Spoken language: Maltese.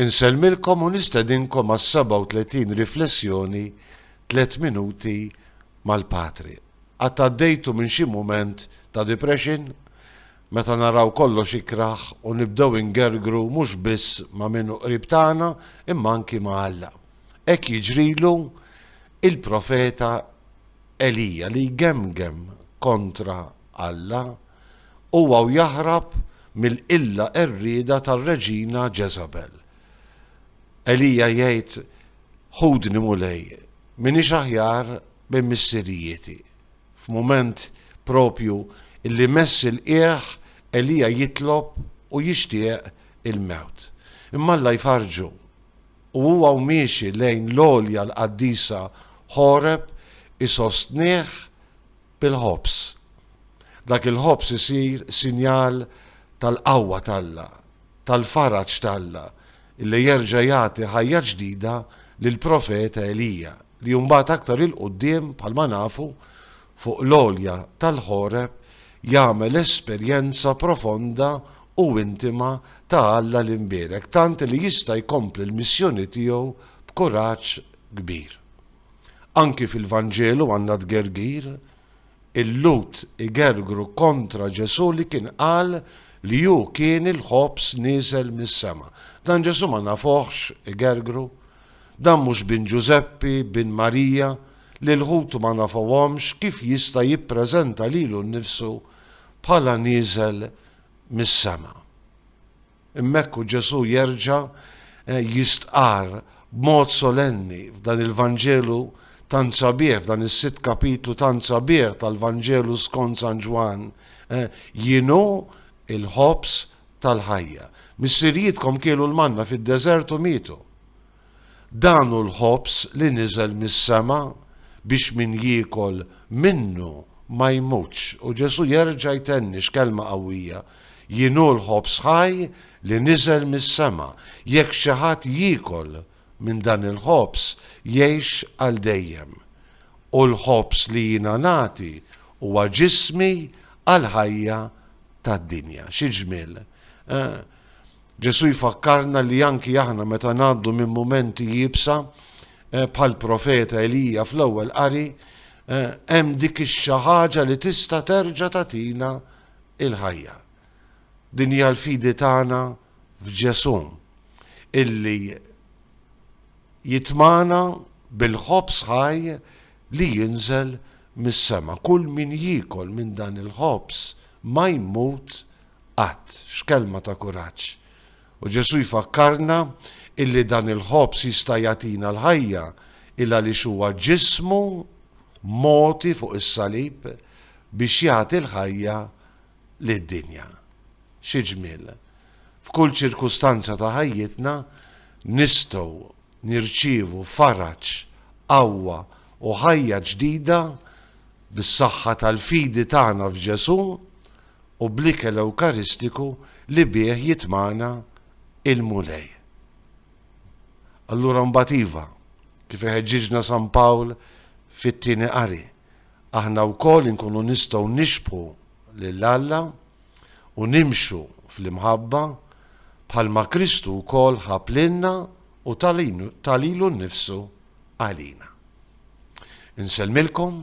Insellmilkom u nistedinkom għas-37 riflessjoni Tliet Minuti mal-Patri. Qatt għaddejtu minn xi mument ta' depression? Meta naraw kollox ikrah u nibdew ingergru mhux biss ma' min hu qrib tagħna imma anki ma' Alla. Hekk jiġrilu il-profeta Elija li jgemgem kontra Alla Huwa u jaħrab mill-qilla qerrieda tar-Reġina Ġeżabel. Elija jgħid, Ħudni, Mulej, m'iniex aħjar minn missirijieti. F'mument proprju li mess il-qiegħ, Elija jitlob u jixtieq il-mewt. Imma Alla jfarrġu, u huwa u miexi lejn l-għolja l-qaddisa Ħoreb isostnih, bil-ħobż. Dak il-ħobż isir sinjal tal-qawwa t'Alla, tal-faraġ t'Alla, li jerġa' jagħti ħajja ġdida lill-profeta Elija, li mbagħad aktar 'il quddiem, bħalma nafu, fuq l-għolja tal-Ħoreb jagħmel esperjenza profonda u intima ta' Alla l-Imbierek, tant li jista' jkompli l-missjoni tiegħu b'kuraġġ kbir. Anki fil-Vanġelu għandna tgergir. Il-Lhud igergru kontra Ġesù li kien qal li hu kien il-ħobż nieżel mis-sema. Dan Ġesù ma nafuhx igergru? Dan mhux bin Ġużeppi, bin Marija, li l-Lhud ma nafuhomx kif jista' jippreżenta lilu nnifsu bħala nieżel mis-sema? Hemmhekk hu Ġesù jerġa' jistqarr b'mod solenni f'dan il-Vanġelu tant sabiħ, f'dan is-sitt kapitlu tant sabiħ tal-Vanġelu skont San Ġwann, Jien hu l-ħobż tal-ħajja. Missirijietkom kielu l-manna fid-deżert u mietu. Dan hu l-ħobż li niżel mis-sema biex min jiekol minnu ma jmutx. U Ġesù jerġa' jtenni x'kelma qawwija, Jien hu l-ħobż ħaj li niżel mis-sema. Jekk xi ħadd jiekol minn dan il-ħobż, jgħix għal dejjem. U l-ħobż li jiena nagħti huwa ġismi għall-ħajja tad-dinja. Xi ġmiel, eh? Ġesù jfakkarna li anki aħna meta ngħaddu minn mumenti iebsa, eh, bħal profeta Elija fl-ewwel qari, eh, hemm dik ix-xi ħaġa li tista' terġa' tagħtina il-ħajja. Din hija l-fidi tagħna f'Ġesù illi jitmana bil-ħobż ħaj li jinżel mis-sema. Kull min jiekol minn dan il-ħobż ma jmut Qatt. X'kelma ta' kuraġġ! U Ġesù jfakkarna illi dan il-ħobż jista' jagħtina l-ħajja il għaliex huwa ġismu mogħti fuq is-salib biex jagħti l-ħajja lid-dinja. Xi ġmiel! F'kull ċirkustanza ta' ħajjitna nistgħu nirċievu faraġ, qawwa u ħajja ġdida bis-saħħa tal-fidi tagħna f'Ġesù u bl-ikel ewkaristiku li bih jitmagħna l-Mulej. Allura mbagħad iva, kif iħeġġiġna San Pawl fit-tieni qari, aħna wkoll inkunu nistgħu nixbħu lil Alla u nimxu fl-imħabba bħalma Kristu wkoll ħab lilna u ta lilu nnifsu għalina. Insellmilkom